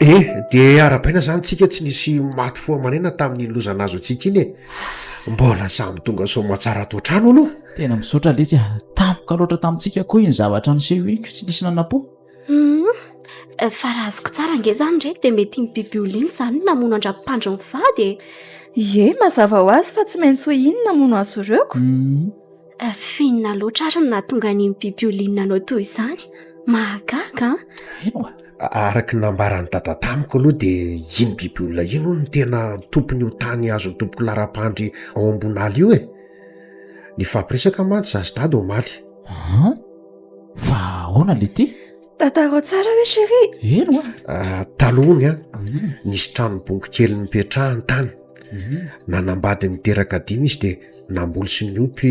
Eh dia arabaina zany tsika tsy nisy maty fo aman'aina tamin'iny loza nahazo antsika iny e mbola samy tonga soamatsara ato an-trano aloha tena misaotra letsy a tampoka loatra tamintsika koa iny zavatra niseho iny ko tsy nisy nanapo hum fa raha azoko tsara ange zany ndray dia mety iny biby olona iny zany no namono an-dRapandry mivady e ie mazava ho azy fa tsy maintsy ho iny namono azy ireo ko hum Finona loatra ary no nahatonga an'iny bibiolina nanao toy izany. Mahagaga an! Eny oa! Araka ny nambaran'i Dada tamiko aloha dia iny bibiolona iny hono no tena tompon'io tany azon'ny tompoko laharam-pandry ao Ambonala io e! Nifampiresaka mantsy izaho sy Dada omaly. An! Fa ahoana le ty? Tantarao tsara hoe chéri. Eno a. Ah, taloha ny an, nisy tranom-bongo kely nipetrahany tany. Mhm. Nanambady niteraka dimy izy dia namboly sy niompy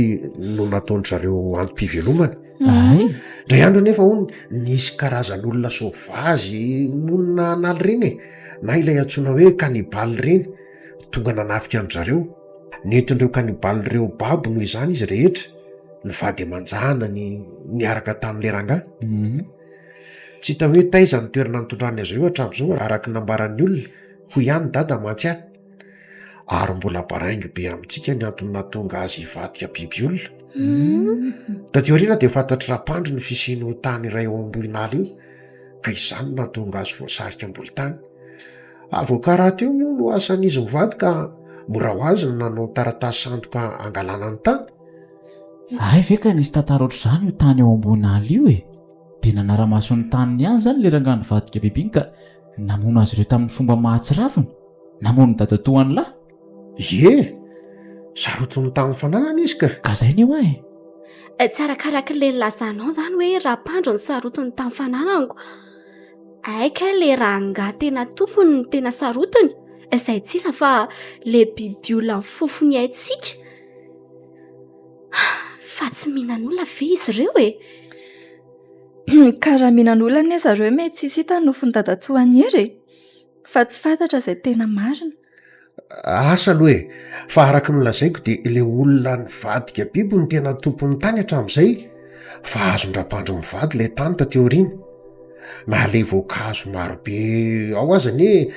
no nataon-dry zareo antom-pivelomana. Ay. Indray andro anefa hono nisy karazan'olona sauvage monina an'ala ireny e, na ilay antsoina hoe cannibale ireny. Tonga nanafika an-dry zareo. Nentin'ireo kanibaly ireo babo noho izany izy rehetra, ny vady aman-janany niaraka tamin'ilay rangahy. Tsy hita hoe taiza ny toerana nitondrany azy ireo hatramin'izao, araka ny nambaran'ny olona. Hoy ihany i Dada mantsy ahy, Ary mbola baraingo be amintsika ny antony nahatonga azy hivadika biby olona. Taty aoriana dia fantatr'i Rapandry ny fisian'io tany iray ao Ambohinala io, ka izany no nahatonga azy voasarika am-bolotany. Avoka rahateo moa no asan'izy mivady ka mora ho azy ny nanao ny taratasy sandoka hangalana ny tany. Hay ve ka nisy tantara ohatr'izany io tany ao Ambohinala io e! Dia nanara-maso ny taniny ihany izany ilay rangahy nivadika biby iny ka namono azy ireo tamin'ny fomba mahatsiravina. Namono dadatoany lahy. Ie, sarotin'ny tamin'ny fananana izy ka. Ka zay ne hoa e. Eh, tsy arakaraky le nilazanao izany hoe Rapandro ny sarotiny tamin'ny fananako. Aika eh, le rangahy tena tompony ny tena sarotiny, izay eh, tsisa fa le biby olona ny fofony haintsika. Fa tsy minan'olona ve izy ireo e? Ka raha minan'olona ne zareo me tsisy hita ny nofon'i dadatsoa any hery e. Fa tsy fantatra izay tena marina. Asa aloha e! Fa araka ny lazaiko dia ilay olona nivadika biby no tena tompon'ny tany hatramin'izay fa azon-dRabandry mivady ilay tany taty aoriana. Na ilay voankazo marobe ao aza anie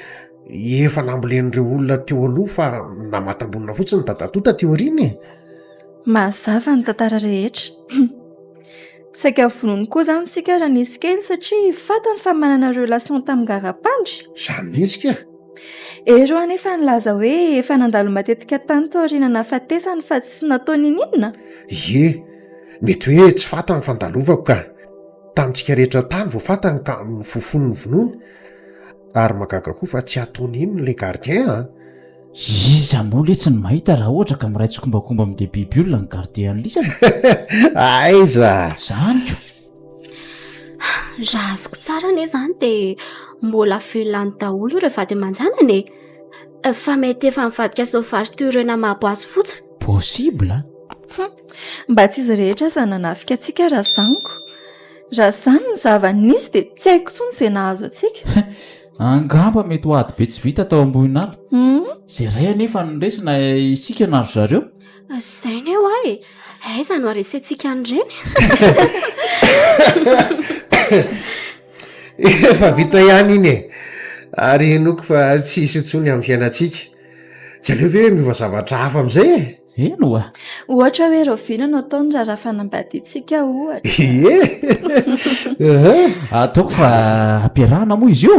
efa nambolen'ireo olona teo aloha fa namatam-bolona fotsiny ny dadatoa taty aoriana e! Mazava ny tantara rehetra. Saika vonoiny koa izany isika raha nisy kely satria fantany fa manana relation tamin'ny garapandry. Izany mihitsy kay! Ero anefa nilaza hoe efa nandalo matetika tany taoriana nahafatesany fa tsy natao nininona? Ie, mety hoe tsy fantany ny fandalovako ka. Tamintsika rehetra tany vao fantany ka nofofony ny vonoany. Ary mahagaga koa fa tsy ataony inona ilay gardien an! Iza moa letsy no mahita raha ohatra ka miray tsikombakomba amin'ilay biby olona ny gardien an'lisany? Aiza! Izany ko! Raha azoko tsara anie izany dia mbola velona any daholo ireo vady aman-janany e. Fa mety efa nivadika sauvage toy ireo namabo azy fotsiny. Possible. Mba tsy izy rehetra aza nanafika antsika razaniko. Raha izany ny zava-nisy dia tsy haiko intsony izay nahazo antsika. Angamba mety ho ady be tsy vita tao Ambohinala. Izay iray anefa no resy na isika na ry zareo. Izay anie hoa e! Aiza no haresentsika an'ireny? Efa vita ihany iny e! Ary henoko fa tsy hisy intsony amin'ny fiainantsika. Tsy aleo ve miova zavatra hafa amin'izay e? Eny hoa! Ohatra hoe rahoviana no atao ny raharaha fanambadiantsika ohatra? Ie! Ataoko fa ampiarahana moa izy io?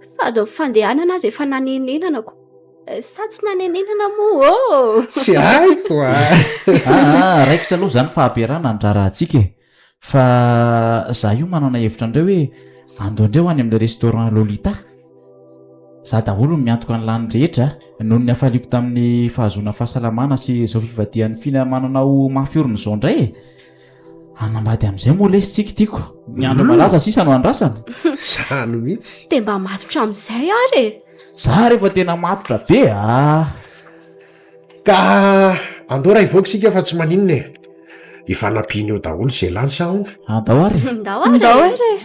Sady ny fandehanana aza efa nanenenanako. Sa tsy nanenenana moa ô? Tsy haiko a! Aa, raikitra aloha izany fahabearana handrarahantsika e! Fa za io manana hevitra an'ireo hoe andeho indray ho any amin'ilay restaurant Lolita. Za daholo no miantoka ny lany rehetra a! Noho ny hafaliako tamin'ny fahazoana fahasalamana sy izao fivadihan'i Fina manana ho mafy orina izao indray e! anambady amin'izay moa lesy tsika tiako ny andro hmm. malaza sisa no andrasana zany mihitsy de mba matotra amin'izay ary e za rehefa tena matotra be a ah. ka andeo raha ivoaka isika fa tsy maninona e ifanampianeo daholo zay lany sa ona andao ah, ary ndao ndao ary e.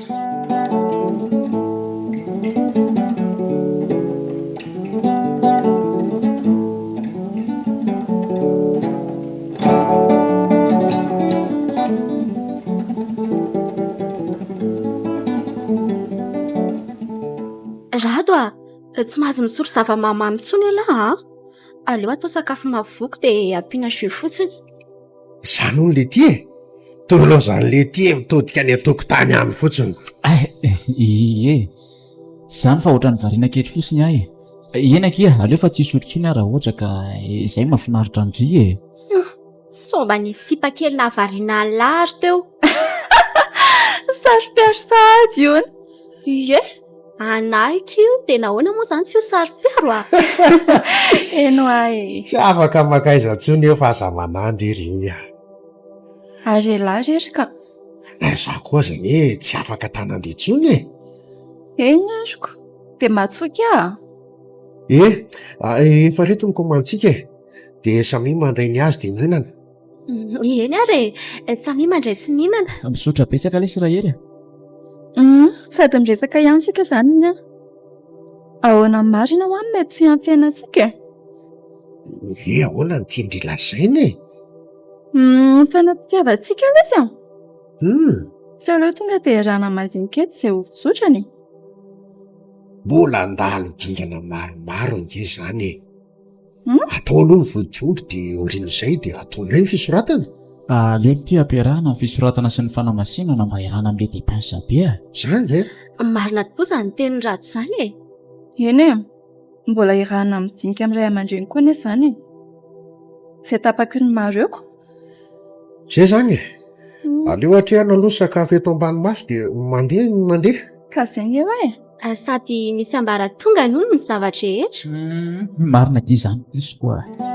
Rado a! Tsy mahazo misotro zava-mahamamo intsony ialahy an! Aleo atao sakafo mahavoky dia ampiana jus fotsiny. Izany hono Letty e! Toa ilaozan'i Letty mitodika any an-tokotany any fotsiny. Ay! Ie! Tsy izany fa ohatran'ny variana kely fotsiny aho e. Eny akia, aleo fa tsy hisotro intsony aho raha ohatra ka izay mahafinaritra an-dry e. Somba nisy sipa kely nahavariana an'i Lahy ary teo. Saro-piaro sahady hono. Ie, anahiko io dia nahoana moa izany tsy ho saro-piaro a! Heno ahy e! Tsy afaka makaiza intsony eo fa aza manandry ry Iny a! Ary elah re ry ka! ary za koa aza anie tsy afaka tanandry intsony e eny ariko de matsoika aa eh efa reto ny komantsika e dia samia mandray ny azy dia mihinana eny ary e samia mandray sy mihinana misaotra betsaka lesy rahery a um sady miresaka ihany isika izany ny an ahoana ny marina ho'a ny mety fiantsena antsika e hoe ahoana ny tian-dry lazaina e Ny fanapitiavantsika aloha izy an! Hum! Tsy aleo tonga dia iarahana mandinika eto izay ho fizotrany e! Mbola handalo dingana maromaro ange izany e! Hum! Atao aloha ny vodiondry dia aorian'izay dia hatao indray ny fisoratana. Aleo ity hampiarahana ny fisoratana sy ny fanamasinana mba hiarahana amin'ilay depensa be a! Izany ve? Marina tokoa izany tenin'i Rado izany e! Eny e! Mbola hirahana midinika amin'ny ray aman-dreny koa anefa izany e! Izay tapaky ny maro eo ko! Izay izany e! Aleo atrehana aloha ny sakafo eto ambany maso dia mandeha ny mandeha. Ka izay ny eo e! Sady misy ambaratonga noho ny zava-drehetra. Humm marina be izany piso koa a!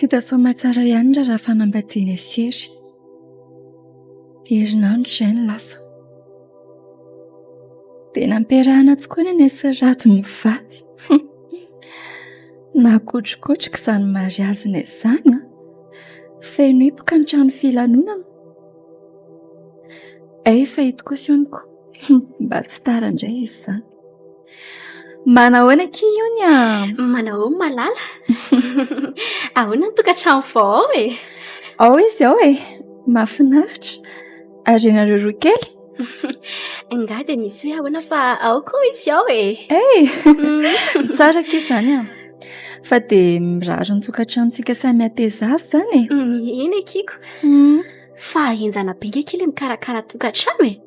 Vita soma tsara ihany raha fanambadiana sy hery. Herinandro izay no lasa. Dia nampiarahana tsy koa neny sy rado ny vady. Nakotrokotroka izany mariazina izany. Feno hipoka ny trano filanonana. Hay efa eto kosa hono ko. Mba tsy tara indray izy izany. Manao ahoana akia hono a? Manao ahoana malala? Ahoana ny tokantrano vao ao e? Ao izy ao e. Mahafinaritra. Ary ianareo roa kely? Angaha dia misy hoe ahoana fa ao koa izy ao e. Hey! Tsara akia izany an. Fa dia mirary ny tokantranontsika samy hateza avy izany e. Eny akiko. Fa henjana be nge kely mikarakara tokantrano e.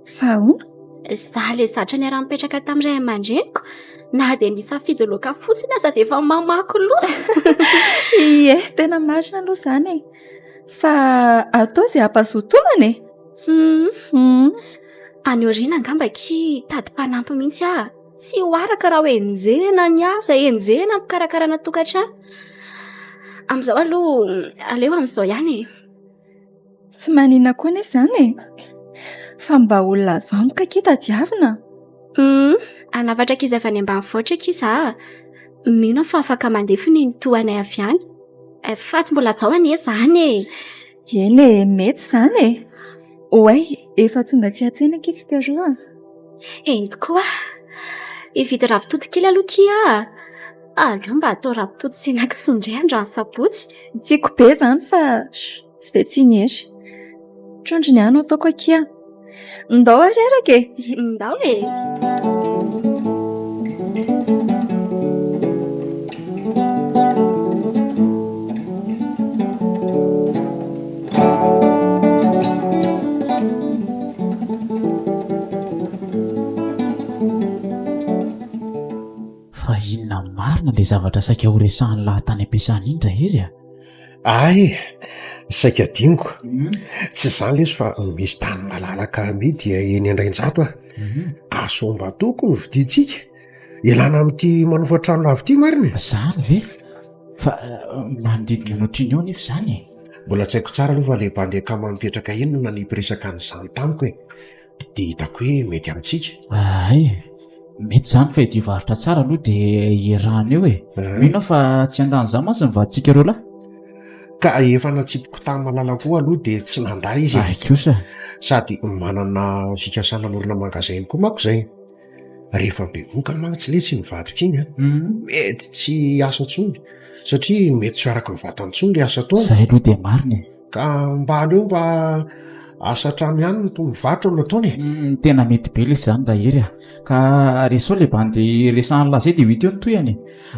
Fa ahoana? Za le zatra niara-nipetraka tamin'ny ray aman-dreniko na dia nisafidy loaka fotsiny aza dia efa mamaky loha. Ie, tena marina aloha izany e. Fa atao izay hampazotonana e. Any aoriana angamba akia hitady mpanampy mihitsy aho. Tsy ho araka raha ho enjehina ny asa, enjehina ny fikarakarana tokantrano. Amin'izao aloha, aleo amin'izao ihany e. Tsy manina koa anie izany e. Fa mba olona azo antoka akia tadiavina. Humm, hanafatra ankizy avy any ambanivohitra akia za a. Mino aho fa afaka mandefa ny tohanay avy any. Fa tsy mbola izao anie izany e. Eny e, mety izany e. Oay, efa tonga tsy an-tsaina akia tsika roa a! Eny tokoa! Hividy ravitoto kely aloha akia a! Aleo mba atao ravitoto sy henakisoa indray androany sabotsy. Tiako be izany fa tsy dia tia ny hery. Trondro ny ahy no ataoko akia. Ndao ary araka e! Ndao e! Fa inona marina ilay zavatra saika horesahan'ny lahy tany am-piasana iny rahery a? Ahy e, saika adinoko. Tsy izany lesy fa misy tany malalaka amidy eny Andrainjato a. Asombatoko ny vidintsika. ialana amin'ity manofa trano lavo ity marina e zany ve fa eh, manodidina anao triny eo nefa izany e mbola tsy haiko tsara aloha fa le bandy akama mipetraka eny no nanipiriresaka an'izany tamiko e Di- dia hitako hoe mety amintsika ay mety zany fa edy varotra tsara aloha de irano eo e Ah. mino aho fa tsy handany za mantsy ny vaditsika roa lahy ka efa natsipiko tamin'ny malala koa aloha dia tsy nandà izy e. ay kosa sady manana fikasana anorina magasin koa manko izay rehefa bevoka mantsy letsy iny vadiko iny a mety tsy hiasa intsony satria mety tsy ho araka ny vatany intsony le asa ataony zay aloha dia marina e ka mba aleo mba asa an-trano ihany no toy ny varotra no ataony e tena mety be lesy zany raha hery a ka resao le bandy resahan'i laza eo dia ho hita eo ny tohiny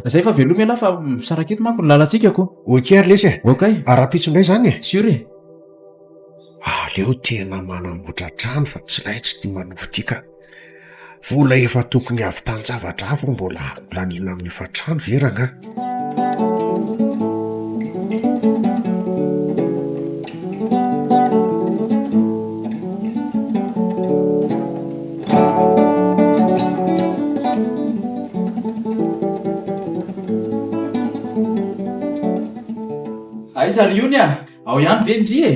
e zay fa veloma ialahy fa misaraka eto manko ny lalantsika ko ok ary lesy e ok ary rahampitso indray zany e sur e aleo tena manamboatra trano fa tsy raha tsy tia manovo ity ka Vola efa tokony havitan javatra hafa mbola holaniana amin'ny hofantrano ve rangahy? Aiza ry ony a! Ao ihany ve ndry e?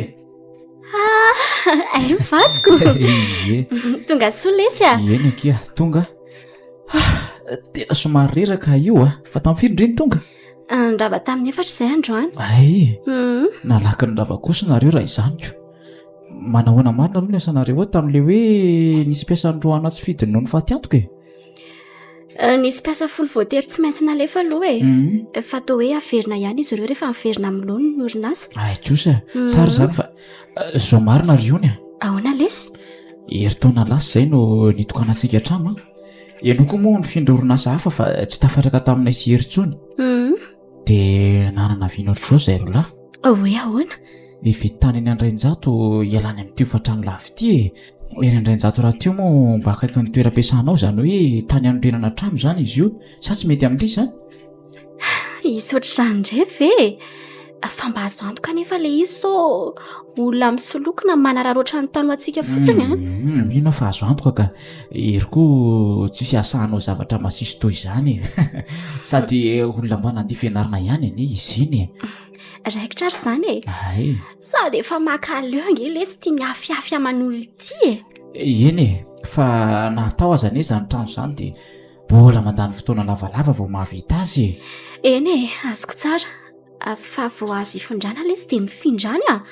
Ay vadiko Tonga soa lesy a Eny akia tonga Tena somary reraka io a Fa tamin'ny firy ndry ny tonga Nirava tamin'ny efatra izay androany Ay mhm. Nalaky ny rava kosa nareo raha izany ko Manahoana marina aloha ny asanareo ao tamin'ilay hoe nisy mpiasa androany atsy fidiny noho ny fatiantoka e Nisy mpiasa folo voatery tsy maintsy nalefa aloha e. Mhm. Efa atao hoe averina ihany izy ireo rehefa miverina amin'ny lony ny orinasa. Ay kosa, Mhm. tsara izany fa eh, zao marina ry Ony a. Ahoana lesy? Herintaona lasa izay no nitokanantsika an-trano an. Ianao koa moa nifindra orinasa hafa fa tsy tafatraka taminay sy Hery intsony. Mhm. dia nanana vina ohatr'izao izay roa lahy hoe ahoana efa tany eny andrainjato ialany amin'ny tio fatrano lavo ity e eny andrainjato raha tio moa mba akaiky ny toeram-piasanao izany hoe tany anorenana trano izany izy io sa tsy mety amin'ity izany izy ohatr'izany indray ve fa mba azo antoka anefa ilay izy sao olona misoloky na manararaoatra ny tany ho antsika fotsiny a mino aho fa azo antoka ka Hery koa tsisy asa hanao zavatra masiso toy izany e Sady olona mba nandia fianarana ihany anie izy iny e Raikitra ary izany e Ay Sady efa maka leo ange lesy tia miafiafy aman'olon-tia e Eny e, fa na atao aza anie izany trano izany dia mbola mandany fotoana lavalava vao mahavita azy e Eny e, azoko tsara Fa vao azo ifindrana ilay izy dia mifindrany a,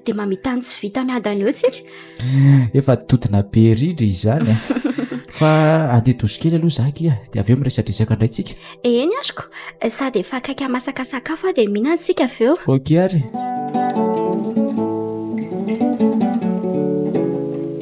dia mamitany tsy vita miadana eo tsika. Efa todina be rindra izany fa andeha doso kely aloha zah kia dia avy eo miresadresaka indray tsika. Eny ariko, sady efa akaiky hamasaka sakafo aho dia mihinana isika avy eo. Ok ary.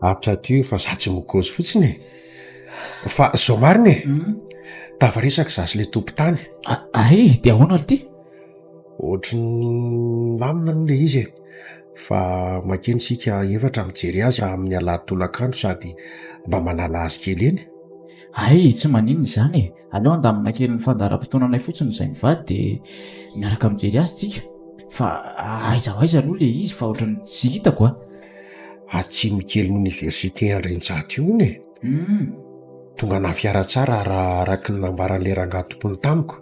Ato ato io fa za tsy mikozy fotsiny e. Fa zao marina e, tava resaka za sy le tompon-tany. Ay, de ahoana ry ty? Ohatry ny milamina aloha le izy e, fa mankeny isika efatra mijery azy amin'ny alahady tolakandro sady mba manala azy kely eny. Ay, tsy maninona izany e. Aleo andamina kely ny fandaharam-potoananay fotsiny izay mivady dia miaraka mijery azy tsika. Fa aiza ho aiza aloha le izy fa ohatrany tsy hitako a. Atsimo kelin'ny Oniversite Andrianjato io hono e. Hum. Tonga nahafiara tsara raha araka ny nambaran'ilay rangahy tompony tamiko.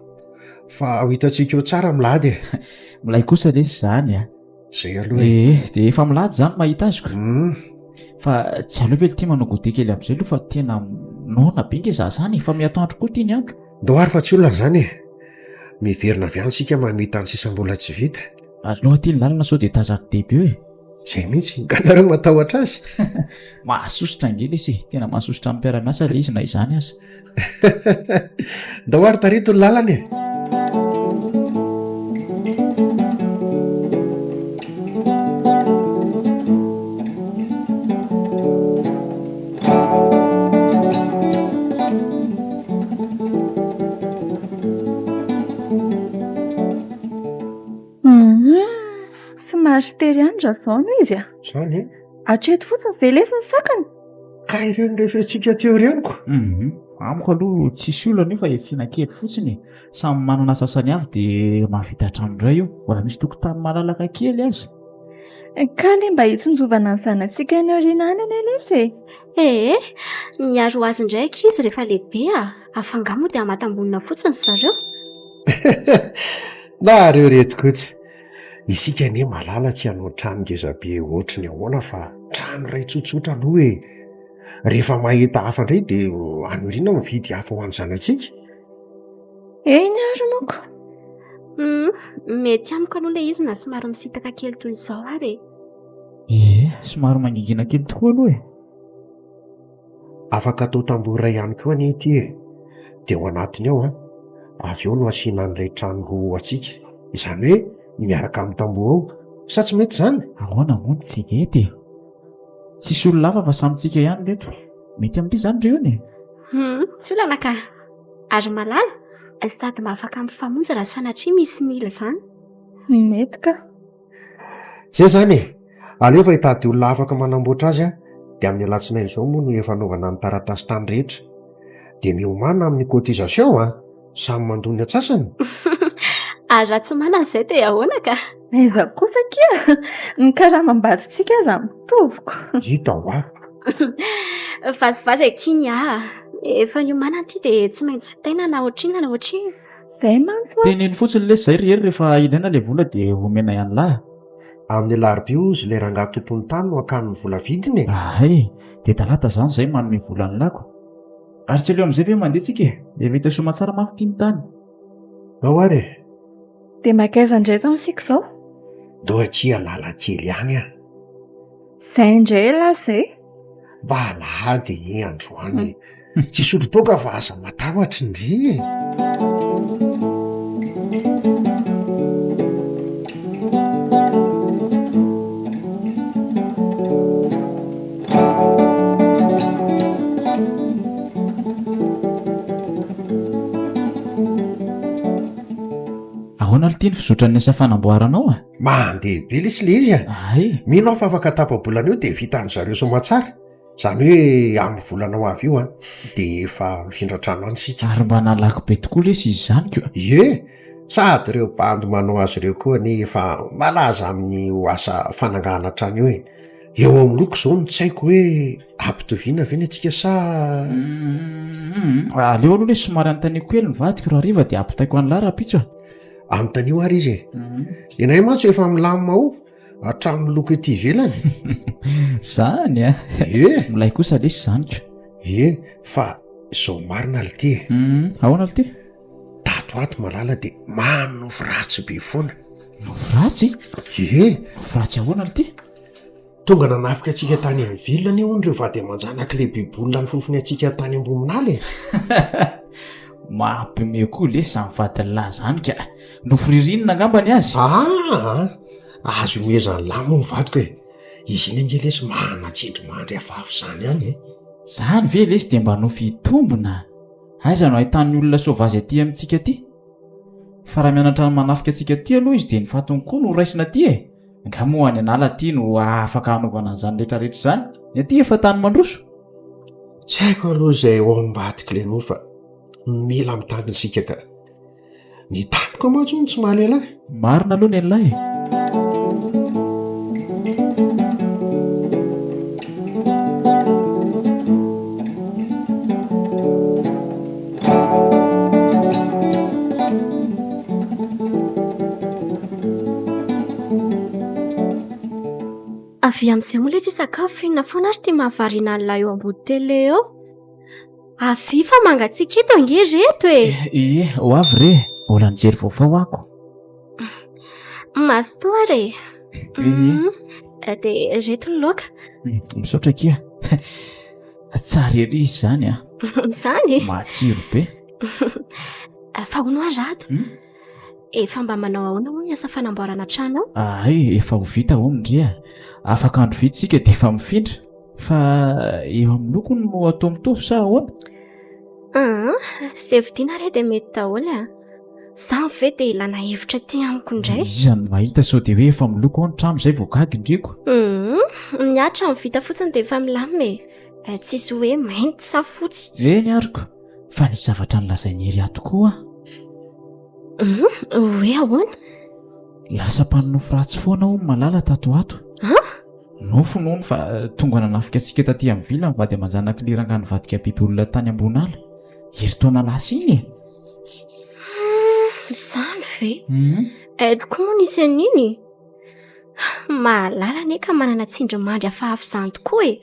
Fa ho hitantsika eo tsara milady e. Milay kosa lesy izany a. zay aloha e eh, eh, dia efa milady zany mahita azy ko hmm. fa tsy aleo ve litima no gode kely am'izay aloha fa tena nona be nge za zany efa miato andro koa ty ny andro ndo ary fa tsy olona zany e miverina avy any sika mamita any sisambola tsy vita aloha ty ny lalana sao dia tazako debe eo e zay mihitsy nganareo matahotra azy mahasosotra angely izy tena mahasosotra ampiarana asa le izy na izany azy ndao ary tareto ny lalana e somary sy tery andry raha zao no izy a zany e hatreto fotsiny velesiny sakana Ka ireny rehefintsika teo ireny ko. Mhm. Amiko aloha tsisy olana io fa efina kely fotsiny e. Samy manana sasany avy de mahavita trano indray eo. Mbola misy tokotany malalaka kely aza. Ka le mba hitsinjovana ny zanatsika any aoriana any anie lesy e. Ee, miaro azy indray ankizy rehefa lehibe a! Afa angaha moa dia hamatam-bonina fotsiny ry zareo? Nareo reto kotsy. Isika anie malala tsy hanao trano ngeza be ohatry ny ahoana fa trano iray tsotsotra aloha e! Rehefa mahita hafa indray dia aniriana aho mividy hafa ho an'ny zanatsika. Eny ary manko. Humm, mety amiko aloha ilay izy na somary misintaka kely toy izao ary e! Ie, somary mangingina kely tokoa aloha e! Afaka atao tamboho iray ihany koa anie ity e, dia ao anatiny ao an, avy eo no asiana an'ilay trano roa ho antsika, izany hoe miaraka amin'ny tamboho ao, sa tsy mety izany? Ahoana moa ny tsy mety e? Tsisy olona hafa fa samy tsika ihany ry reto, mety amin'ity izany ry ony e? Hum, tsy olana ka! Ary malala, sady mba afaka mifamonjy raha sanatria misy mila izany. Mety ka! Izay izany e! Aleo efa hitady olona afaka manamboatra azy aho dia amin'ny alatsinainy izao moa no efa anaovana ny taratasy tany rehetra. Dia miomàna amin'ny cotisation an! Samy mandoa ny antsasany. Ary raha tsy manana izay dia ahoana ka? Aiza kosa akia! Ny karamam-bazintsika aza mitovy ko! Hita hoa! Vazivazy akia ny ahy! Efa niomàna ity dia tsy maintsy vitaina na ohatrinona na ohatrinona. Zay manko a. Teneno fotsiny lesy zay ry hery rehefa ilaina le vola de omenay anlah. Amin'ny alarobia ozy le rangahy tompon'ny tany no akany ny vola vidiny e! Ahay e! De talata zany zay manome vola anlah ko. Ary tsy aleo amizay ve mandeha tsika e! Efa hita soa aman-tsara manko ty ny tany. Ao ary e! De makaiza ndray zany isika zao? Ndao akia Analakely any an! Zay ndray elah zay! mba alahady anie androany e tsy hisotro toaka fa aza matahotry ndry e ahoana aloha ity ny fizotran'ny asa fanamboaranao a Mandeha be lesy le izy a! Ay! Mino aho fa afaka tapa-bolana eo dia vitan-dry zareo soamantsara, izany hoe amin'ny volana ho avy io an, dia efa mifindra trano any isika. Ary mba nalaky be tokoa lesy izy izany ko! Ie! Sady ireo bandy manao azy ireo koa anie efa malaza amin'io asa fanangahana trano io e! Eo amin'ny loko izao ny tsaiko hoe ampitoviana ve ny antsika sa? Hum! Aleo aloha lesy somary anontaniako kely ny vadiko, raha hariva dia ampitaiko an'lah rahampitso e! anontanio ary izy e ianay mantsy efa milamina ao hatramin'ny loko ety ivelany zany a e milay kosa lesy zany ko e fa zao marina ly ty e mhm. ahoana ly ty tato ato malala de manofy ratsy be foana nofy ratsy e nofy ratsy ahoana ly ty Tonga nanafika antsika tany amin'ny ville anie hono ireo vady aman-janak'i lehibe Bola nifofony antsika tany Ambohiminala e! Mampiomehy koa lesy izany vadin'lah izany ka! Nofiririnina angamba ny azy? Aa! Azo iomezan'lah moa ny vadiko e! Izy iny ange lesy manan-tsendry mandry hafahafa izany ihany e! Izany ve lesy dia mba nofy hitombina? Aiza no ahitan'ny olona soavazy aty amintsika aty? Fa raha mianatra ny manafika antsika aty aloha izy dia ny fatiny koa no horaisina aty e! Angaha moa any an'ala aty no afaka hanaovana an'izany rehetrarehetra izany? Ny aty efa tany mandroso. Tsy haiko aloha izay ao ambadik'i Lenoa fa mila mitandrina isika ka. Ny tamiko mantsy hono tsy mahalel ahy. Marina aloha ny an'ilay e. Avia amin'izay moa lesy hisakafo, inona foana ary ity mahavariana an'lah eo ambody tele eo? Avia fa mangatsiaka eto ange ry reto e! Ee, ho avy re, mbola nijery vaovao ako. Mazotoa ary e! Ee. Dia ireto ny laoka. Misaotra akia. Tsara ery izy zany a. Zany? Matsiro be. Fa hono aho rado. Hmm? Efa mba manao ahoana hono ny asa fanamboarana trano ao? Ay, efa ho vita hono ndry a. Afaka andro vitsy tsika dia efa mifindra. Fa eo amin'ny loko no atao mitovy sa ahoana? Ah, izay vidiana re dia mety daholo a. Zany ve dia ilana hevitra aty amiko indray? Iza no mahita sao dia hoe efa miloko ao ny trano izay vao gaga indreko. Hum, ny atra ny vita fotsiny dia efa milamina e. Eh, tsisy hoe mainty sa fotsy. Eny ariko, fa nisy zavatra nilazain'i Hery ahy tokoa. Hum, hoe ahoana? Lasa mpanonofy ratsy foana hono Malala tato ho ato. Ha? Nofy nono fa eh, tonga nanafika antsika taty amin'ny vila ny vady aman-janak'i Liranga nivadika biby olona tany ambony ala. Herintaona lasa iny e. Izany ve? Aiky koa moa nisy an'iny e. Mahalala anie ka manana tsindrimandry hafahafa izany tokoa e.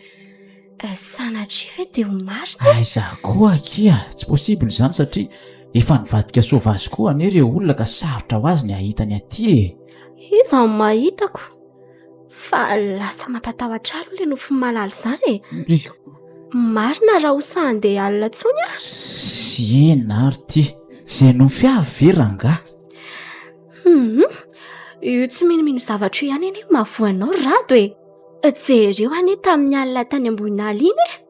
Eh, sanatria ve dia ho marina? Ah, izaho koa akia, tsy possible izany satria efa nivadika sauvage koa anie ireo olona ka sarotra ho azy ny hahita ny aty e. Iza no mahitako? Fa lasa mampatahotra alo ilay nofy malala izany e. Miko. Marina raha ho sahande alina tsony ah. Siena ary ty. Izay nofy avy ve rangah? Mhm. Io tsy minomino zavatra io ihany anie mahavoa anao rado e. Jereo anie tamin'ny alina tany amboninala iny e.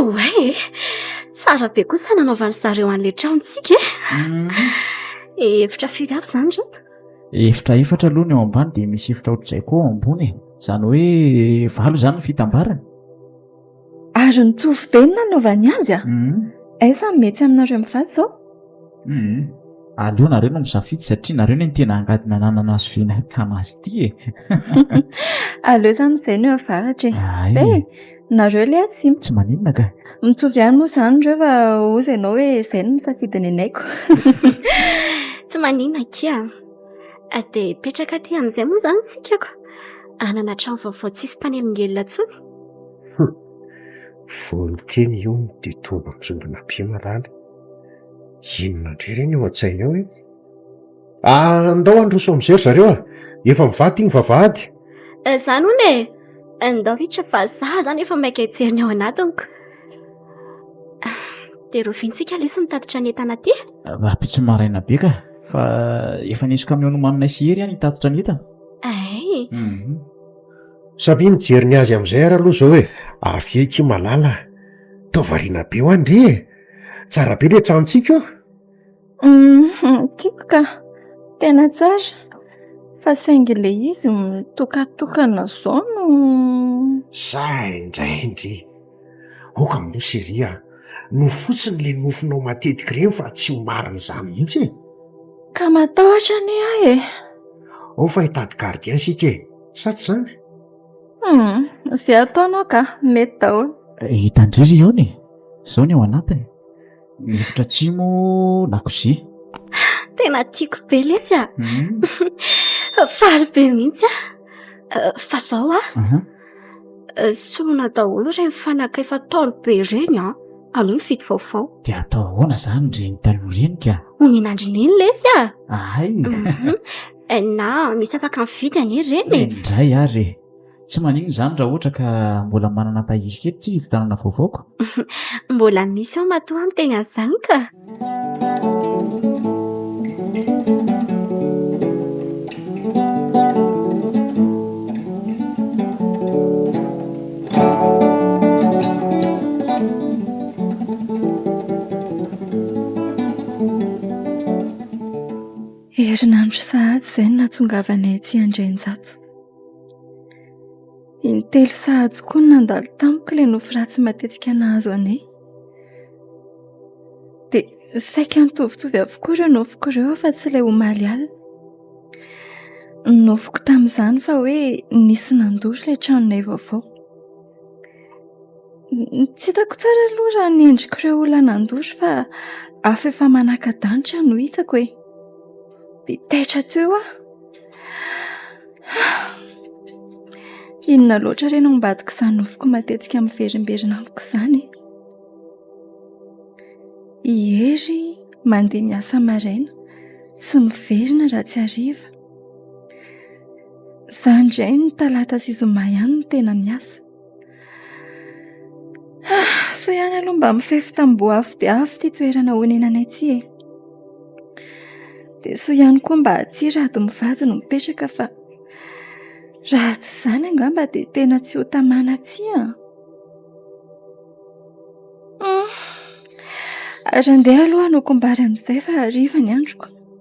Oay e! Tsara be kosa nanaovan'i zareo an'ilay tranontsika e! Efitra firy avy izany ireto? Efitra efatra aloha ny ao ambany dia misy efitra ohatr'izay koa ao ambony e! Izany hoe valo izany ny fitambarany. Ary nitovy be ny nanaovany azy a! Aiza ny mety aminareo mivady izao? Humm aleo nareo no misafidy satria nareo ne ny tena angady nananana azy f'io nahitana azy ity e! aleo zany izay no avaratra e! eh! nareo le tsy tsy maninona ka! mitovy ihany moa zany reo fa hozy ianao hoe izay no misafidy ny anay ko! tsy maninona akia a! dia hipetraka aty amin'izay moa zany isika ko! hanana trano vaovao tsisy mpanelingelina intsony! humm! vao nikely io ny tombotsoandonabe malala! Inona indray ireny ao an-tsainy ao e? Ah, ndao handroso amin'izay ry zareo ah! Efa mivady iny vavahady. Eh, izany hono e! Eh, ndao hiditra fa za izany efa maika hijery ny ao anatiny ko. Ah, dia rovintsika lesy mitatitra ny entana aty. Eh, Rahampitso maraina be ka, fa efa nisy kamiao nomaninay sy Hery an hitatitra ny entana. Ay! Mhm. Samia mijery ny azy amin'izay ary aloha izao e! Avia akia malala ah! Tao variana be ho'a ndry e! tsara be le tranontsika eo uum tiako ka tena tsara fa saingy le izy mitokatokana zao no zay ndray ndry aoka mino chery a no fotsiny le nofinao matetiky ireny fa tsy ho marina izany mihitsy e ka matahotra anie ahy e ao fa hitady gardien isika e sa tsy izany Hmm, izay ataonao ka, mety daholo. Eh, hitandry ry Yone, izao ny ao anatiny. Ny efitra atsimo, lakozia. Tena tiako be lesy ah. Hmm. Faly be mihitsy ah. Eh, fa izao ah. Uh-huh. Eh, solona daholo ireny fanaka efa taolo be ireny ah. Aloha ny fito vaovao. Dia atao ahoana izany ireny taloha ireny ka? Omenandry neny lesy ah. Ahay. Mhm. Eh, na misy afaka mividy anie reny e. Indray ary e. Tsy maninona izany raha ohatra ka mbola manana tahiry kely tsy hivitanana vaovao ko. Mbola misy ao matoa ny teny an'izany ka. Herinandro sahady izay no nahatongavanay aty Andrianjato. Intelo sahady koa no nandalo tamiko ilay nofy ratsy matetika nahazo anay. Dia saika nitovitovy avokoa ireo nofiko ireo afa tsy ilay omaly alina. Nofiko tamin'izany fa hoe nisy nandoro ilay tranonay vaovao. Tsy hitako tsara aloha raha ny endrik'ireo olona nandosy fa afo efa manaka-danitra no hitako e. Dia taitra teo aho. Inona loatra re no ambadik'izany nofoko matetika miverimberina amiko izany e. I Hery mandeha miasa maraina, tsy miverina raha tsy hariva. Za indray ny talata sy zoma ihany no tena miasa. Sao ihany aloha mba mifefy tamboho avo dia avo ity toerana onenanay ity e. Dia soa ihany koa mba aty rado mivady no mipetraka fa raha tsy izany angamba dia tena tsy ho tamana aty an! Ary andeha aloha hanokom-bary amin'izay fa hariva ny androko.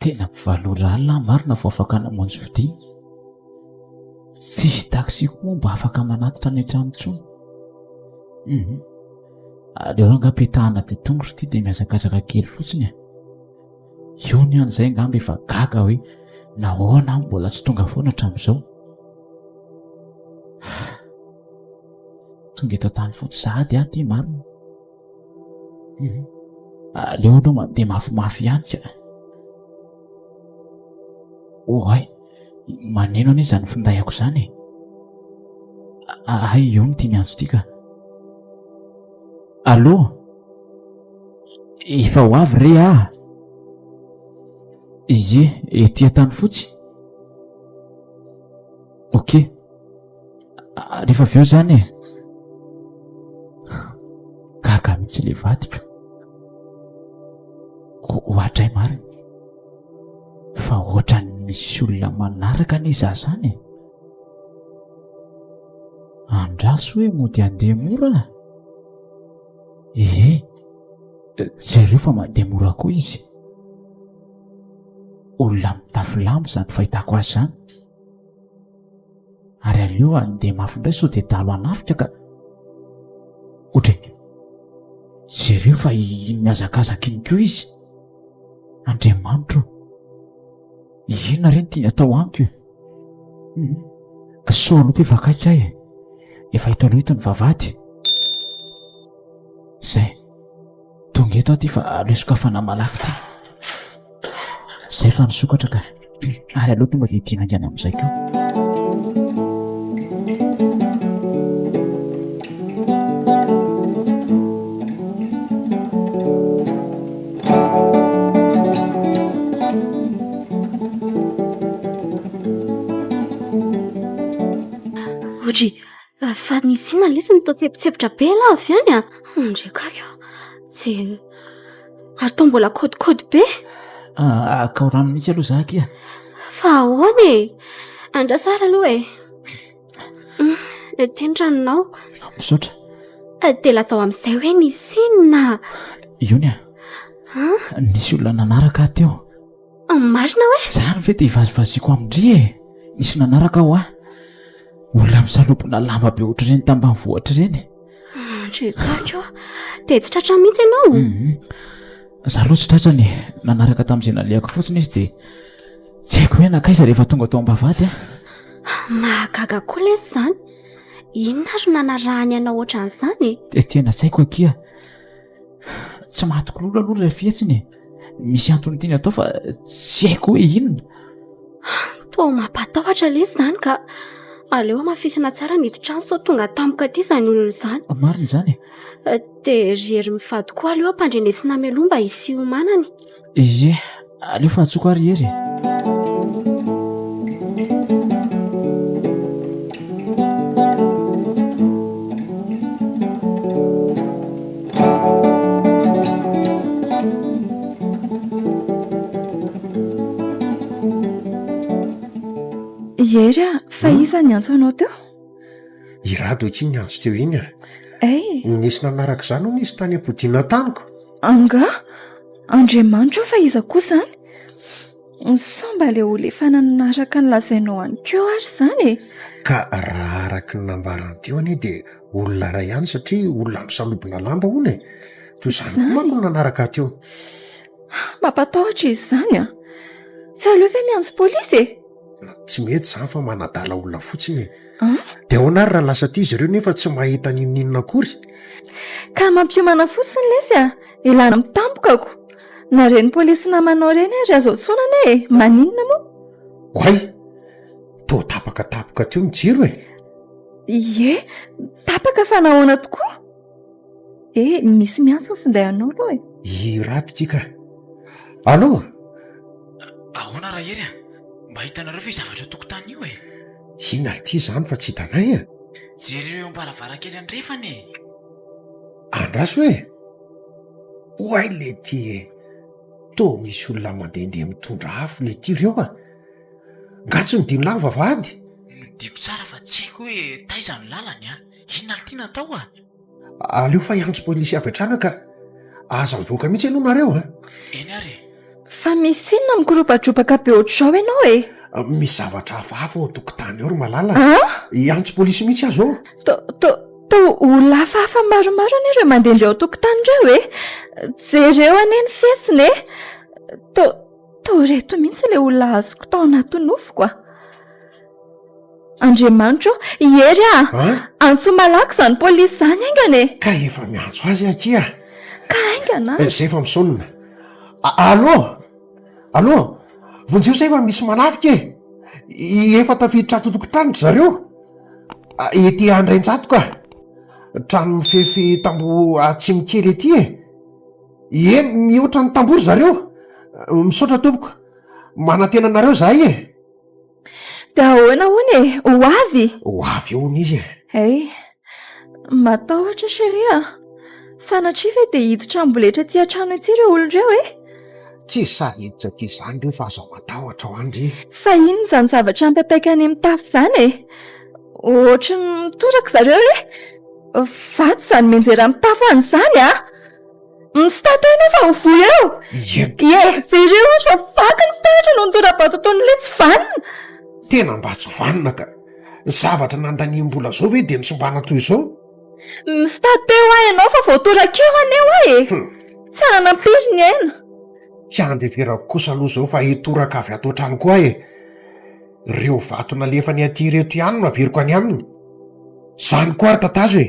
Tena valo ora alina aho marina vao afaka namonjy fidiana. Tsisy taxi koa mba afaka manatitra any an-trano intsony. Hum. Aleo angaha apetahana be tongotra ity dia mihazakazaka kely fotsiny e. Io ny an'izay angamba efa gaga hoe nahoana aho mbola tsy tonga foana hatramin'izao. Tonga eto an-tany fotsy sahady aho ity marina. aleo aloha mandeha mafimafy ihany ka oay manino anie zany findahiko zany e ahay eo no tiany antso ty ka allo efa ho avy re ah ie etia tany fotsy ok ah, rehefa avy eo zany e gaga mihitsy le vadiko hoatray mariny fa ohatrany misy olona manaraka ny za zany e andraso hoe mody andeha mora ehe jereo fa mandeha mora koa izy olona mitafilamo zany fahitako azy zany ary aleo handeha mafy indray sao dia dalo hanafika ka otre jereo fa iny mihazakazaka iny ko izy andriamanitro inona re ny tiany atao amiko e hmm. sao aloha mpivakaiky ahy e efa hito aloha hito ny vavady izay Tonga eto aho ty fa aleo sokafana malaky ty. Zay fa nisokatra ka. Ary aleo tonga dia ity haingana amin'izay koa. Fa ny Sina lesy no toa tsebotsepotra be lah avy any an! Ndry kay a! Tsy e! Ary toa mbola kôdikôdy be! Akao rano mihitsy aloha za akia! Fa ahoana e! Andraso ary aloha e! Ity ny ranonao. Misaotra. Dia lazao amin'izay hoe nisy inona? Iony an! Nisy olona nanaraka ahy teo. Marina hoe? Izany ve dia ivazivaziako amin-dry e? Nisy nanaraka aho ah. Olona misalopona lamba be ohatr'ireny tambanivohitra ireny. Ndry kako, dia tsy tratra mihitsy ianao? Mhm. Izaho aloha tsy tratra ny nanaraka tamin'izay nalehako fotsiny izy dia tsy haiko hoe nankaiza rehefa tonga tao am-bavahady ah. Mahagaga koa lesy izany. Inona ary no nanarahany anao ohatran'izany e? Dia tena tsy haiko akia. tsy mahatokololo aloha ilay fihetsiny e misy antony tiany atao fa tsy haiko hoe inona toa mampatahotra le izany ka aleo hamafisina tsara ny hidin-trano sao tonga tampoka aty izany olona izany marina izany e dia ry hery mivady koa aleo ampandrenesina mialoha mba hisy hiomanany Ye, aleo fahatsoko ary Hery e. Hery a, fa hmm? iza ny antso anao teo? I Rado akia ny antso teo iny a. Ay. Nisy nanaraka izany hono izy tany am-podiana taniko. Angaha? Andriamanitra io fa iza kosa any? Sao mba ilay olefana araka ny lazainao any koa ary izany e? Ka raha araka ny nambarany teo anie dia olona iray ihany satria olona misalobona lamba hono e! Toy izany koa manko ny nanaraka ahy teo. Mampatahotra izy izany an! Tsy aleo ve miantso polisy e? tsy mety zany fa manadala olona fotsiny e ah? de ahoana ary raha lasa aty izy ireo nefa tsy mahita ninoninona akory ka mampiomana fotsiny lesy a de lana mitampoka ko na reny polisy namanao reny ary azo atsonana e maninona moa oay to tapaka tapoka teo ny jiro e ye tapaka fa nahoana tokoa Eh, misy miantso ny finday anao aloha e. I Rato ity ka. Allo? Ahoana Rahery a? Mba hitanareo ve zavatra eo tokontany io e? I Nalty izany fa tsy hitanay a. Jereo eo am-baravarankely andrefana e. Andraso e. Oay lety e. Toa misy olona mandehandeha mitondra afo lety ireo a. Nga tsy nodino lava vavahady? Nodiko tsara fa tsy haiko hoe taiza ny lalany a. Inona no tiana atao a? Aleo fa hiantso polisy avy hatrany ka aza mivoaka mihitsy ianao nareo a! Eny ary e! Fa misy inona mikoropatropaka be ohatr'izao ianao e? Misy zavatra hafahafa ao an-tokotany ao ry Malala a! An? Hiantso polisy mihitsy aho izao! To, to, to olona hafahafa maromaro anie ireo mandehandeha ao an-tokotany ireo e! Jereo anie ny fihetsiny e! To, to ireto mihitsy ilay olona azoko tao anaty nofiko a! Andriamanitro i Hery a! Antso malaky izany polisy izany aingana e! Ka efa miantso azy akia a! Ka aingana a! Izay efa misonona. Allo! Allo! Vonjeo izay fa misy manafika e! Efa tafiditra ato an-tokontany ry zareo, ety Andrainjatoka, trano mifefy tamboho atsimo kely ety e! Ie, mihoatra ny tamboho ry zareo. Misaotra tompoko. Manantena anareo izahay e! Dia ahoana hono e? Ho avy? Ho avy hono izy e. Hey, matahotra chérie a. Sanatria ve dia hiditra amboletra aty an-trano ity ireo olona ireo e? Tsy sahy hiditra aty izany ireo fa aza matahotra ho andry. Fa inona izany zavatra mipapaika any amin'ny tafo izany e? Ohatry ny mitoraka zareo e. Vato izany mianjera amin'ny tafo any izany a! Misitato ianao fa ho voa eo! Ie, jereo hozy fa vaky ny fitaratra noho ny tora-bato ataon'ny le tsy vanona! Tena mba tsy vanona ka! Zavatra nandaniam-bola zao ve dia nitsimbana toy izao? Misitato eo aho ianao fa voatorak'eo anie hoa e! Tsy hananam-piry ny aina! Tsy andeverako kosa aloha izao fa hitoraka avy ato an-trano koa aho e! Ireo vato nalefany aty ireto ihany no averiko any aminy! Izany koa ary tatazo e!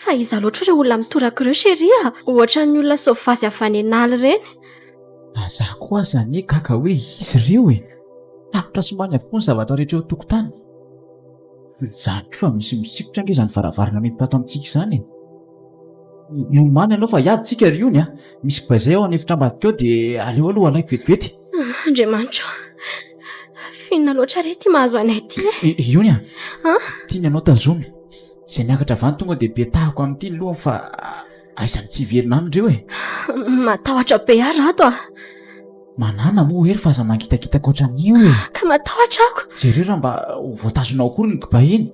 Fa iza loatra ireo olona mitoraka ireo chérie a? Ohatran'ny olona sauvage avy any an'ala ireny. Na za koa aza anie gaga hoe iza ireo e! Tapitra sy maina avokoa ny zavatra rehetra eo an-tokotany. Izany koa fa misy misikotra ange izany varavarana mety tato amintsika izany e! Miomàna ianao fa hiady tsika ry ony a! Misy bay izay ao an'efitra ambadika ao dia aleo aloha alaiko vetivety. Andriamanitro a! Finona loatra re ity mahazo anay ity e! Ony a! Tiany ianao tazomy. Zay miakatra avy any tonga dia be tahako amin'ity ny lohany fa aiza ny tsy hiverina any ireo e. Matahotra be ary ato ah. Manana moa hery fa aza mangitakitaka ohatran'io e. Ka matahotra ako. Jereo raha mba ho voatazona ao akory ny kiba iny.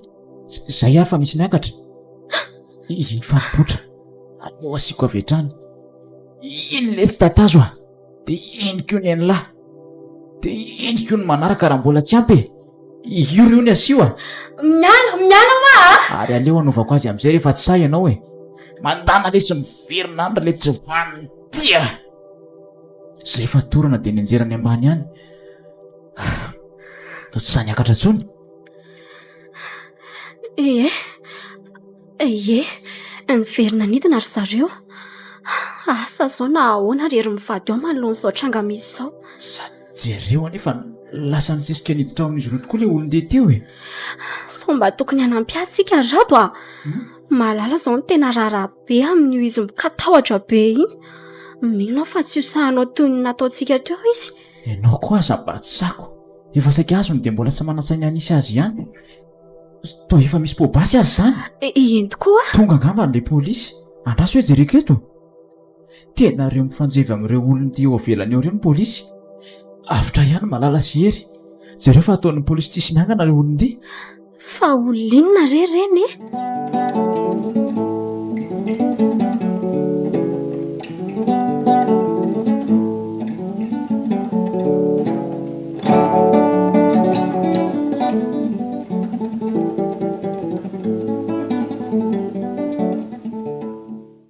Zay ary fa misy miakatra. Iny faripotra. Aleo asiako avy hatrany. Iny lesy tatazo ah. de henoko eo ny anla de henoko ny manaraka raha mbola tsy ampy e io reo ny asio a miala miala ma a ary aleo anaovako azy am'izay rehefa tsy sahy ianao e mandana le sy miverina andra le tsy vaniny tia zay fatorana de nianjerany ambany any no tsy sany akatra tsony ee Ie, niverina nidina ry zareo. Asa izao na ahoana ry ry mivady ao manoloana izao tranga misy izao. Sady jereo anie fa lasa nisesika niditra ao amin'izy ireo tokoa ilay olon-deha teo e! Sao mba tokony hanampy azy isika ry Rado a! Malala izao no tena raharaha be amin'io izy mikatahotra be iny. Mino aho fa tsy ho sahy hanao toy ny nataontsika teo izy. Ianao koa aza mba tsy sako. Efa saika azony dia mbola tsy manan-tsaina hanisy azy ihany. Toa efa misy pobasy azy izany. Eh, eny tokoa. Tonga angamba ilay polisy. Andraso hoe jereko eto. Tena ireo mifanjevy amin'ireo olon'ity eo avelany eo ireo ny polisy. Avotra ihany Malala sy Hery. Jereo fa ataon'ny polisy tsisy miangana ireo olon'ity. Fa olinona re ireny e?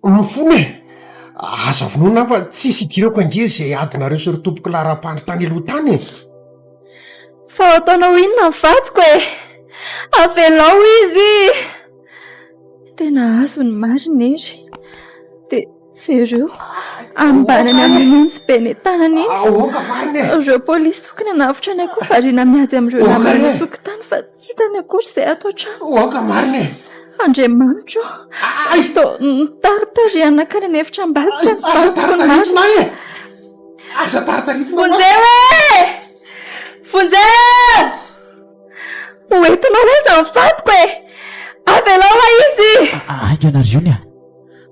Lofona e! Aza vonoina aho fa tsisy idirako ange ze adinareo sy ry tompoko laharam-pandry tany aloha tany e! Fa ho ataonao inona ny vadiko e? Avelao izy! Tena azo ny marina e ry! Jereo, ambanany amin'ny monjy be ny tanany iny. Aoka variny e! Ireo polisy sokina navotra ny akoho variana miady amin'ireo namana eny an-tokotany fa tsy hitany akory izay ato an-trano. Aoka variny e! Andriamanitro, Ay! tsy to- notaritarihany nankany an'efitra ambadika ny Aza vadiko ny marina. taritaritina ahy e! Aza taritaritina ahy. Vonjeo e! Vonjeo! Hoentinao aiza ny vadiko e! Avelao ahy izy! Aiky ianareo ny ahy.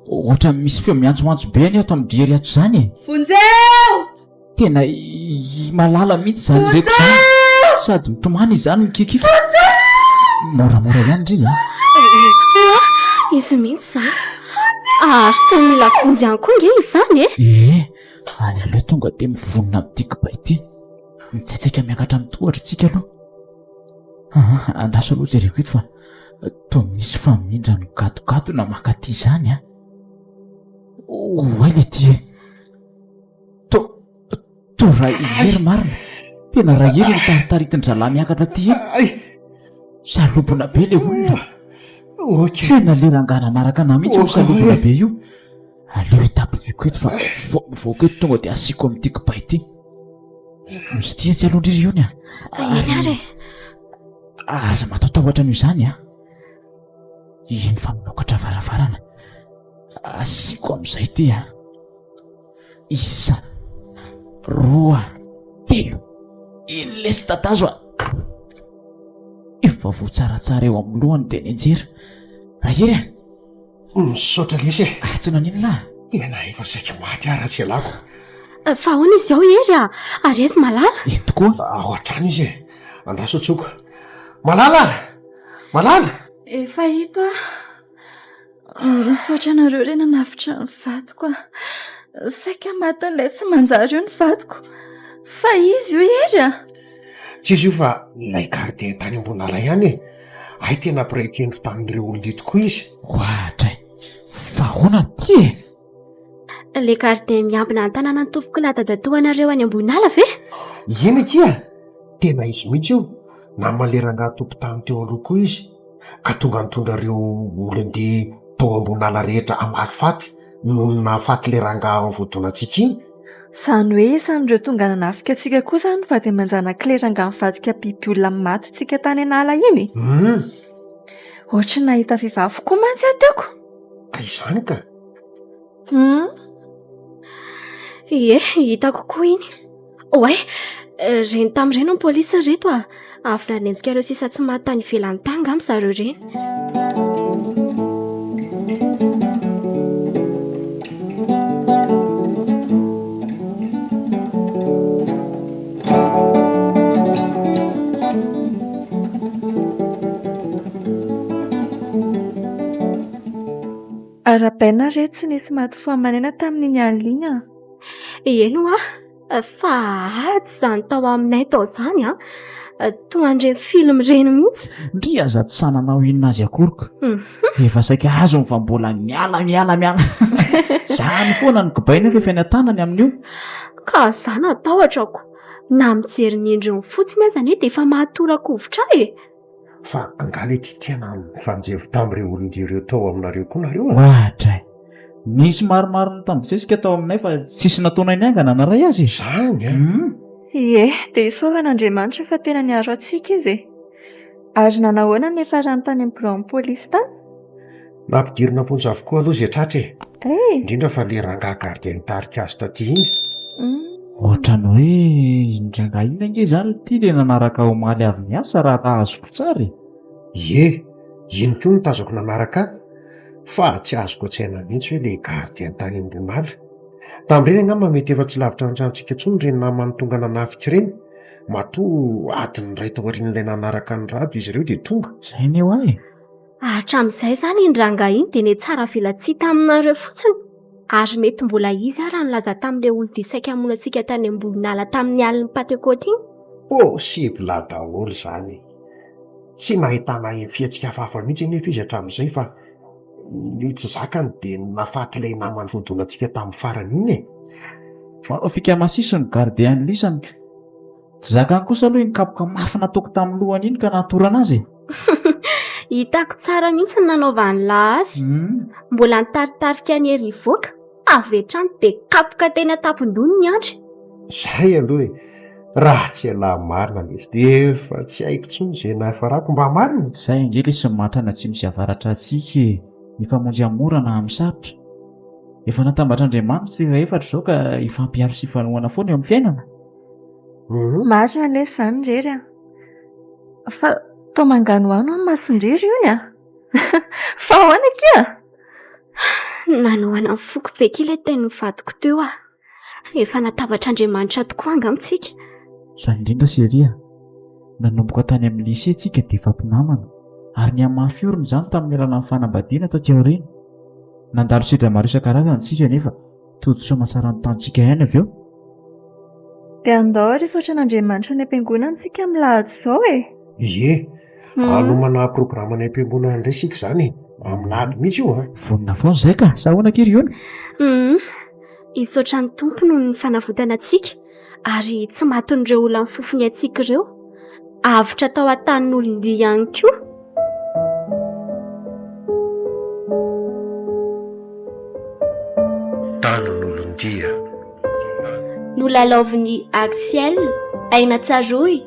Ohatran'ny misy feo miantsoantso be anie ato amin'ny dry ato izany e. Vonjeo! Tena i Malala mihitsy izany reko izany. Sady mitomany izany mikikika. Vonjeo! Moramora ihany ndry a. Ireto koa a! Izy mihitsy izany. Ary toa mila vonjy ihany koa ange izany e. Ee, ary aleo tonga dia mivonona amin'ity kibay ity. Mitsaitsaika miakatra amin'ny tohatro isika aloha. Aa, andraso aloha jereko eto fa Toa misy famindra nigadongadona mankaty izany an! Oay le ty e! Toa, toa ra i Hery marina! Tena ra Hery iny taritaritin-drahalahy miakatra ty iny! Salobona be le olona! Tena le rangahy nanaraka anah mihitsy io salobona be io! Aleo hitapakako eto fa mivoaka eto tonga dia asiako amin'ity kiba ity. Misy tia tsy aloha ndriry iony a. Eny ary e. Aza mataotahotra an'io izany a. Iny fa manokatra varavarana. Asiako amin'izay ity a. Isa, roa, telo. Iny lesy tatazo a. Efa voa tsaratsara eo amin'ny lohany dia nianjera. Rahery a. Misaotra lesy e. Ah, tsy naninona ah. Tena efa saiky maty ah ratsy ialako. Eh, fa ahoana izy ao Hery ah? Ary aizy Malala? Eh, tokoa. Ah, ao hatrany izy e. Andraso tsoko. Malala! Malala! Efa hita ah. Misaotra anareo re nanavotra ny vadiko ah. Saika matin'ilay tsy manjary io ny vadiko. Fa izy io Hery ah. Tsy izy io fa ilay gardien tany Ambonaray ihany e! Hay tena mpiray tendro tamin'ireo olon-dia tokoa izy. Ohatra e! Fa ahoana no tia e? Ilay gardien miambina an-tanana ny tompoko na dadatoanareo any Ambohinala ve? Eny akia! Tena izy mihitsy io. Naman'ilay rangahy tompon-tany teo aloha koa izy, ka tonga nitondra ireo olon-dia tao Ambohinala rehetra hamaly faty noho ny nahafaty ilay rangahy voadonantsika iny. Izany hoe isan'ireo tonga nanafika antsika koa izany fa dia manjanak'ilay rangahy nivadika biby olona matintsika tany an'ala iny e. Humm. Ohatry ny nahita vehivavy koa mantsy aho teo ko. Ka izany ka. Humm. Ie, hitako koa iny. Oay, ireny tamin'ireny ny polisy ry reto a. Avy nanenjika ireo sisa tsy maty tany ivelany tany angamba ry zareo ireny. Arahabaina re tsy nisy maty fo aman'aina tamin'iny alina iny an! Eny hoa. Fa ady izany tao aminay tao izany an! Toa an'ireny film ireny mihitsy. Ndrii aza tsy sahy nanao inona azy akory ka. Efa saika azony fa mbola miala miala miala. Izany foana no kibay nefa efa eny an-tanany amin'io. Ka za natahotra ko. Na mijery ny endriny fotsiny aza anie dia efa maha tora-kovitra ahy e! fa angaha le ty tena nifanjevo tamin'ireo olon-dia ireo tao aminareo koa nareo e? Ohatra e! Nisy maromaro nitambozesika tao aminay fa tsisy nataonay niangana hanaray azy e! Izany an! Hum! Ie, dia isaorana Andriamanitra fa tena niaro antsika izy e! Ary nanahoana ny niafarany tany amin'ny biraon'ny polisy tany? Nampidirina am-ponja avokoa aloha izay tratra e! Indrindra fa ilay rangahy gardien nitarika azy taty iny. Ohatran'ny hoe iny rangahy iny ange izany ity ilay nanaraka ahy omaly avy niasa raha raha azoko tsara e! Ie, iny koa no tazako nanaraka ahy. Fa tsy azoko an-tsaina mihitsy hoe ilay gardien tany Ambohimala. Tamin'ireny angamba mety efa tsy lavitra ny tranontsika intsony ireny namany tonga nanafika ireny. Matoa adiny iray taorian'ilay nanaraka an'i Rado izy ireo dia tonga. Izay anie hoa e! Hatramin'izay izany iny rangahy iny dia netsara vela tsihy taminareo fotsiny ary mety mbola izy ary nilaza tamin'ilay olobe saika hamono antsika tany Ambohinala tamin'ny alin'ny Pantekôty iny. Possible daholo izany e! Tsy nahitana fihetsika hafahafa mihitsy anefa izy hatramin'izay fa ny tsy zakany dia ny nahafaty ilay namany voadonantsika tamin'ny farany iny e! Fanao fika masiso ny gardiens lisany. Tsy zakany kosa aloha iny kapoka mafy nataoko tamin'ny lohany iny ka nahatorana azy e! Hitako tsara mihitsy ny nanaovan'i La azy. Mbola nitaritarika an'i Hery hivoaka avy hatrany dia kapoka teny an-tampon-dohany ny andry. Izay aloha e! Raha tsy ialahy marina anie izy dia efa tsy haiko intsony izay nahafarako mba marina e! Izay ange ilay Somatrana atsimo sy avaratra antsika e! Mifamonjy amin'ny mora na amin'ny sarotra. Efa natambatr'Andriamanitra ny sehra efatra izao ka hifampiharo sy hifanohana foana eo amin'ny fiainana. Hum marina lesy izany irery an! Fa toa manganohano ny mason-drery hono an! Fa ahoana akia? Nanohana ny foko be akia ilay tenin'ny vadiko teo an! Efa natabatr'Andriamanitra tokoa angamba isika. Izany indrindra chérie an! Nanomboka tany amin'ny lycée isika dia efa mpinamana ary nihamafy orina izany tamin'ny alalan'ny fanambadiana taty aoriana. Nandalo sedra maro isan-karazany isika nefa. Tojo masaran'ny tantsika ihany avy eo. Dia andao ary hisaotra an'Andriamanitra any am-piangonana isika amin'ny lahady izao e. Ie, hmm. anomana programme any am-piangonana indray isika izany e. Amin'ny lahady mihitsy io a. Ah. Vonona foana izay ka, sa ahoana kely iona? Hmm. Hisaotra ny Tompo noho ny fanavotana antsika. ary tsy matin'ireo olan'ny fofony antsika ireo, avotra tao an-tanin'olon-dia ihany koa. Tanin'olon-dia. Nolalaovin'i Axielle, aina tsaroy.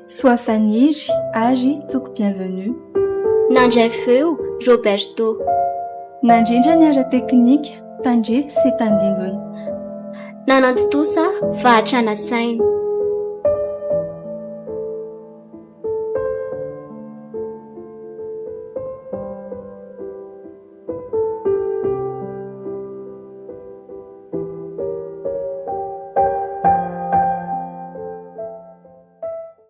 Soa Faniry ary Tsoko Bienvenue. Nandray feo, Roberto. Nandrindra ny ara-teknika, tandrify sy tandindona. Nanantontosa fahatrana saina.